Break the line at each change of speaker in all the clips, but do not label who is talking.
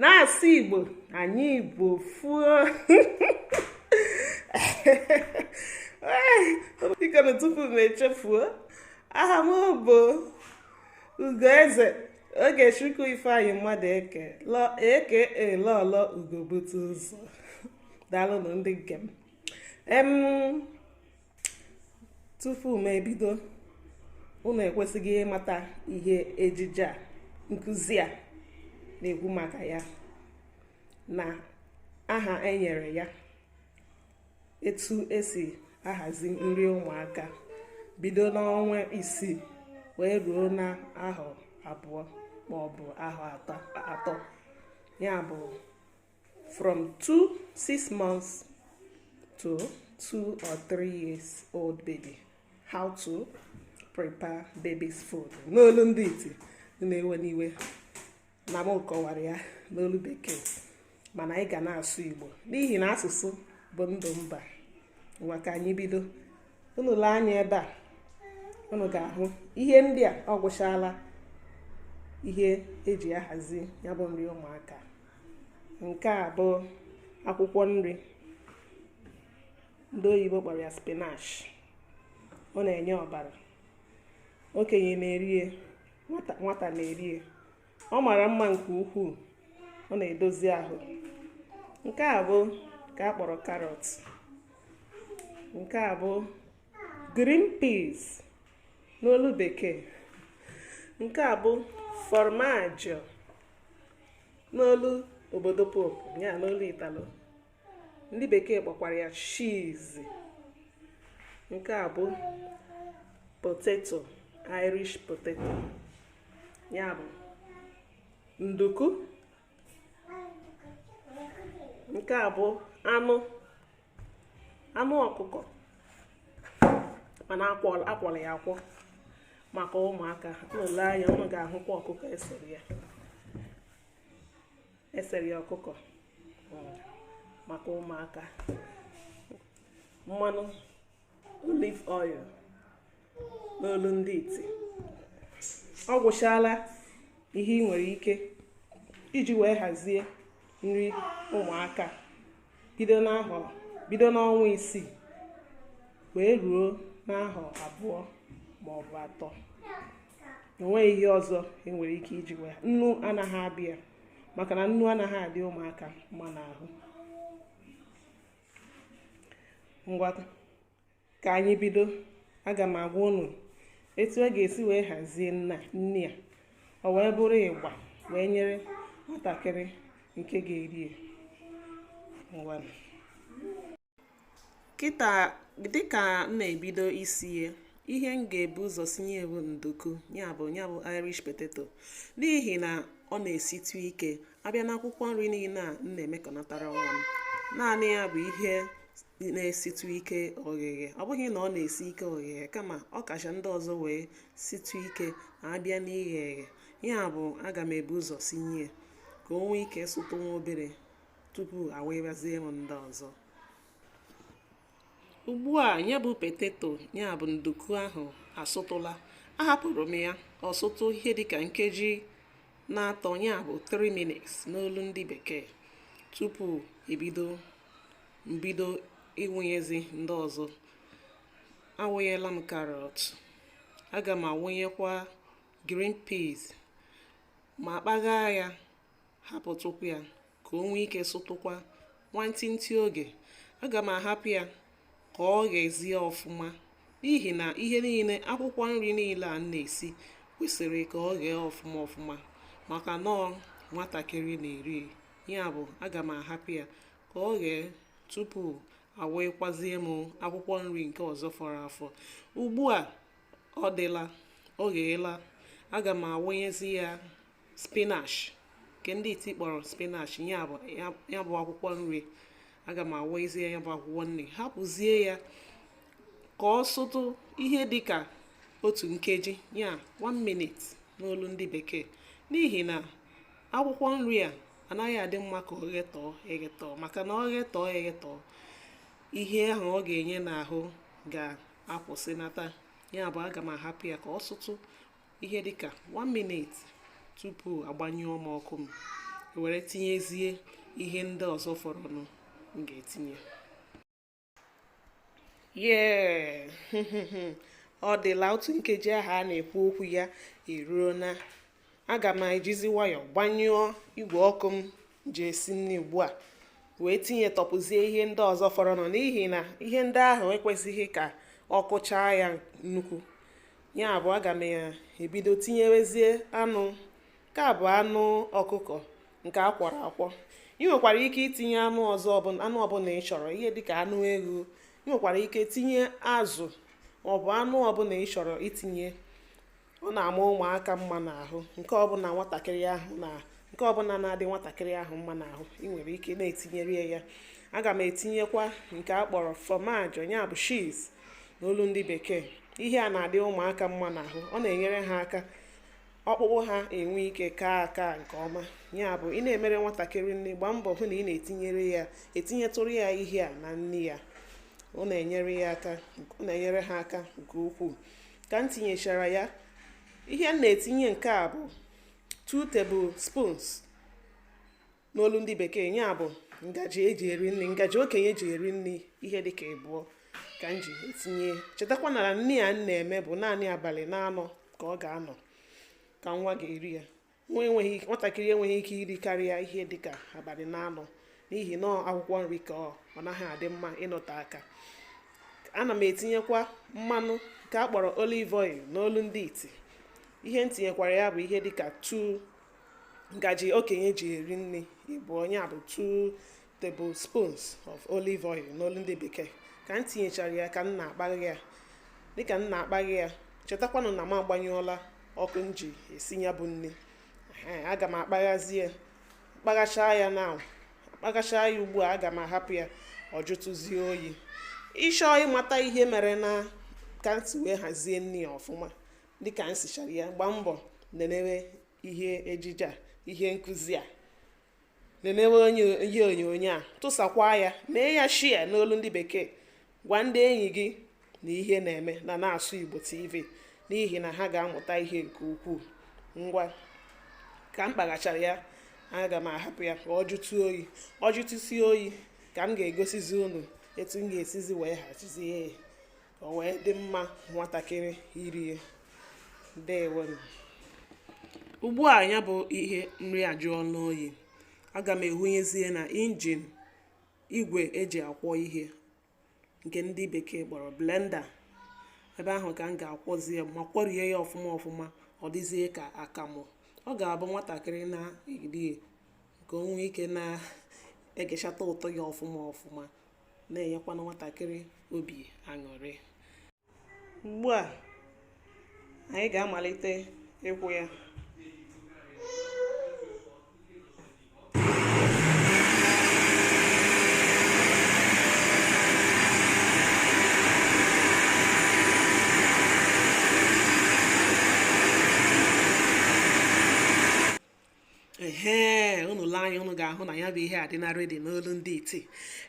na-asụ igbo anyị igbo fuo bikonu tupu m echefuo aha m bụ ugoeze ogechukwu ifeanyị madụeke aka lọlọ ugobute ụzọ daalụnụ ndị nke m tupu m ebido unu ekwesịghị ịmata ihe ejije nkuzi a na-ekwu maka ya na aha enyere ya etu esi ahazi nri ụmụaka bido n'ọnwa isii wee ruo n'ahọ abụọ maọbụ ahọ atọ ya bụ from two six months to two or three years old baby how to prepare baby's food n'olu ndị iti unu ewena iwe na m kọwara ya n'olu bekee mana anyị ga na-asụ igbo n'ihi na asụsụ bụ ndụ mba ngwa ka anyị bido unu lee anya ebe a unu ga-ahụ ihe ndị a ọ gwụchala ihe eji ahazi ya bụ nri ụmụaka nke a bụ akwụkwọ nri ndị oyibo kpọrọ ya spinach ọ na-enye ọbara okenye na-erie nwata na-erie ọ mara mma nke ukwuu ọ na-edozi ahụ nke a bụ ka a kpọrọ karọt nke a bụ green peas n'olu bekee nke a bụ formaggio n'olu obodo popu ya n'olu italo ndị bekee kpọkwara ya cheese nke a bụ poteto irish poteto ya bụ nduku nke a bụ anụ anụ ọkụkọ mana akwọrọ ya akwọ maka ụmụaka unu lee anya unu ga-ahụkwa ọkụkọ esere ya esere ya ọkụkọ maka ụmụaka mmanụ olive oil n'olu ndị iti ọ gwụchala ihe i nwere ike iji wee hazie nri ụmụaka bido n'ahọ bido n'ọnwa isii wee ruo n'ahọ abụọ ma ọ bụ atọ o nweghị ihe ọzọ i nwere ike iji wee nnu anaghị abịa maka na nnu anaghị adị ụmụaka mma n'ahụ ngwa ka anyị bido aga m agwa unu etu a ga-esi wee hazie nri a ọ wee bụrụ ịgba wee nyere nwatakịrị nke ga-eri ya ngwa kịta dịka m na-ebido isi ya ihe m ga-ebu ụzọ sinye bụ nduku ya bụ ya bụ irish potato n'ihi na ọ na-esitụ ike a bịa n'akwụkwọ nri niile a m na-emekọnatara nwa m naanị ya bụ ihe na-esitụ ike ogheghe ọ bụghị na ọ na-esi ike ogheghe kama ọ kacha ndị ọzọ wee sitụ ike a bịa n'ighe eghe ya bụ aga m ebu ụzọ sinye ka o nwee ike sụtụ nwa obere tupu awụbazie m ndị ọzọ ugbu a ya bụ potato ya bụ nduku ahụ asụtụla ahapụrụ m ya ọ sụtụ ihe dịka nkeji na-atọ ya bụ 3 minutes n'olu ndị bekee tupu ebido m bido ịwụnyezi ndị ọzọ awụnyela m karọt aga m awụnyekwa green peas ma kpaghaa ya hapụtụkwa ya ka o nwee ike sụtụkwa nwantịntị oge aga m ahapụ ya ka o ghezie ọfụma n'ihi na ihe niile akwụkwọ nri niile a na-esi kwesịrị ka o ghee ọfụma ọfụma maka na ọ nwatakịrị na-eri ya bụ aga m ahapụ ya ka o ghee tupu awụịkwazie m akwụkwọ nri nke ọzọ fọrọ afọ ugbu a ọ dịla o gheela aga m awụnyezi ya spinach nke ndị iti kpọrọ spinach ya bụ ya bụ akwụkwọ nri aga m awụnyezie ya bụ akwụkwọ nri hapụzie ya ka ọ sụtụ ihe dị ka otu nkeji ya 1 minute n'olu ndị bekee n'ihi na akwụkwọ nri a anaghị adị mma ka o ghetọọ eghetọ maka na o ghetọọ eghetọ ihe ahụ ọ ga-enye n'ahụ ga-akwụsịnata ya bụ aga m ahapụ ya ka ọ sụtụ ihe dịka 1 minute tupu agbanyụọ m ọkụ m were tinyezie ihe ndị ọzọ fọrọnụ m ga-etinye yee ọ dịla otu nkeji ahụ a na-ekwu okwu ya eruona aga m ejizi nwayọ gbanyụọ igwe ọkụ m ji esi nri ugbu a wee tinye tọpụzie ihe ndị ọzọ fọrọnụ n'ihi na ihe ndị ahụ ekwesịghị ka ọkụ chaa ya nnukwu ya bụ aga m ya ebido tinyewezie anụ nke a bụ anụ ọkụkọ nke a kwọrọ akwọ i nwekwara ike itinye anụ ọzọ anụ ọbụla ị chọrọ ihe dịka anụ eghu i nwekwara ike tinye azụ maọbụ anụ ọbụla ị chọrọ itinye ọ na-ama ụmụaka mma n'ahụ nke ọbụla nwatakịrị ahụ na nke ọbụla na-adị nwatakịrị ahụ mma n'ahụ ị nwere ike na-etinyere ya aga m etinyekwa nke a kpọrọ formaggio ya bụ cheese n'olu ndị bekee ihe a na-adị ụmụaka mma n'ahụ ọ na-enyere ha aka ọkpụkpụ ha enwee ike kaa aka nke ọma ya bụ ị na-emere nwatakịrị nri gbaa mbọ hụ na ị na-etinyere ya etinyetụrụ ya ihe a na nri ya ọ na-enyere ya aka ọ na-enyere ha aka nke ukwuu ka m tinyechara ya ihe m na-etinye nke a bụ 2 tablespoons n'olu ndị bekee ya bụ ngaji eji eri nri ngaji okenye eji eri nri ihe dịka ịbụọ ka m ji etinye chetakwa na nri a m na-eme bụ naanị abalị na-anọ ka ọ ga-anọ ka nwa ga-eri ya nwa enweghị nwatakịrị enweghị ike iri karịa ihe dịka abalị na-anọ n'ihi na akwụkwọ nri ka ọ ọ naghị adị mma ịnọte aka aga m etinyekwa mmanụ nke a kpọrọ olive oil n'olu ndị iti ihe m tinyekwara ya bụ ihe dịka 2 ngaji okenye ji eri nri ịbụọ ya bụ 2 tablespoons of olive oil n'olu ndị bekee ka m tinyechara ya ka m na-akpaghe ya dịka m na-akpaghe ya chetakwanụ na m agbanyụọla ọkụ m ji esi ya bụ nri aga m akpaghazi ya kpaghachaa ya na kpaghachaa ya ugbu a aga m ahapụ ya ọ jụtụzie oyi ị chọọ ịmata ihe mere na ka m si wee hazie nri ya ọfụma dịka m sichara ya gbaa mbọ nenewe ihe ejije a ihe nkụzi a nenewe onye ihe onyonyo a tụsakwaa ya mee ya share n'olu ndị bekee gwa ndị enyi gị na ihe na-eme na na-asụ Igbo TV n'ihi na ha ga-amụta ihe nke ukwuu ngwa ka m kpaghachara ya aga m ahapụ ya ka ọ jụtụ oyi ọ jụtụsie oyi ka m ga-egosizi unu etu m ga-esizi wee hazie ya ka o wee dị mma nwatakịrị irie dewenu ugbu a ya bụ ihe nri ajụọla oyi aga m ehunyezie na injin igwe eji akwọ ihe nke ndị bekee kpọrọ blender ebe ahụ ka m ga-akwọzi ya ma kwọrie ya ọfụma ọfụma ọ dịzie ka akamu ọ ga-abụ nwatakịrị na-eri ka o nwee ike na-egechata ụtọ ya ọfụma ọfụma na-enyekwanụ nwatakịrị obi aṅụrị ugbu a anyị ga-amalite ịkwọ ya ehe unu lee anya unu ga-ahụ na ya bụ ihe adịla ready n'olu ndị iti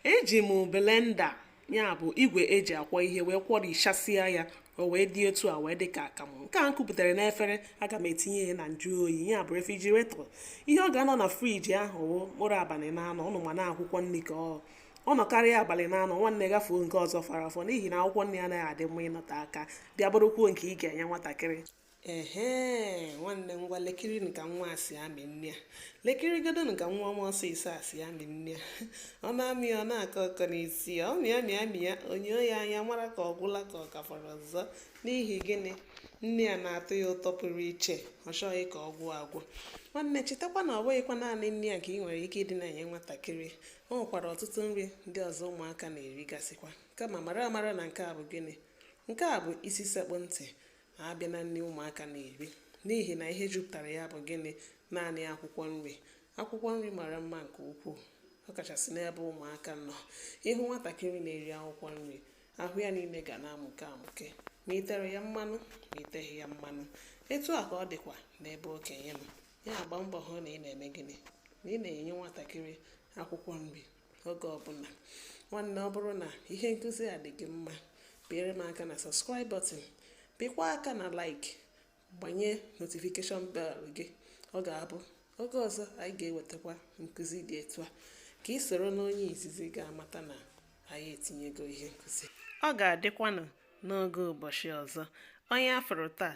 eji m blender ya bụ igwe e ji akwọ ihe wee kwọrichasịa ya o wee dị etu a wee dị ka akamụ nke a m kupụtara n'efere aga m etinye ya na nju oyi ya bụ refrigerator ihe ọ ga-anọ na fridge ahụ wụ mkpụrụ abalị na anọ unu ma na akwụkwọ nri ka ọ ọ nọkarịa abalị na anọ nwanne kwafuo nke ọzọ fọrọ afọ n'ihi na akwụkwọ nri anaghị adị mma ịnọte aka bịa bụrụkwuo nke ị ga-enye nwatakịrị ehe nwanne ngwa lekiri ka nwa a si amị nri a lekiri godonu ka nwa ọma ọsịsọ a si amị nri a ọ na-amị ọ na-akọ ọkọ n'isi ya ọ mịa mịa mịa o nyoo ya anya mara ka ọ gwụla ka ọ ka fọrọ ọzọ n'ihi gịnị nri a na-atọ ya ụtọ pụrụ iche ọ chọghị ka ọ gwụ agwụ nwanne chetakwa na ọ bụghịkwa naanị nri a ka ị nwere ike ịdị na-enye nwatakịrị o nwekwara ọtụtụ nri ndị ọzọ ụmụaka na-erigasịkwa kama mara amara na nke a bụ gịnị nke a bụ isi sekpu ntị a bịa na nri ụmụaka na-eri n'ihi na ihe juputara ya bụ gịnị naanị akwụkwọ nri akwụkwọ nri mara mma nke ukwuu ọ kachasị n'ebe ụmụaka nọ ị hụ nwatakịrị na-eri akwụkwọ nri ahụ ya niile ga na-amụke amụke ma i tere ya mmanụ ma i teghị ya mmanụ etu a ka ọ dịkwa n'ebe okenye nọ ya gbaa mbọ hụ na ị na-eme gịnị na ị na-enye nwatakịrị akwụkwọ nri oge ọbụla nwanne ọ bụrụ na ihe nkụzi a dị gị mma pịere m aka na subscribe button pịkwa aka na like gbanye notification bell gị ọ ga-abụ oge ọzọ anyị ga-ewetakwa nkụzi dị etu a ka i soro n'onye izizi ga-amata na anyị etinyego ihe nkụzi ọ ga-adịkwanụ n'oge ụbọchị ọzọ onye a fụrụ taa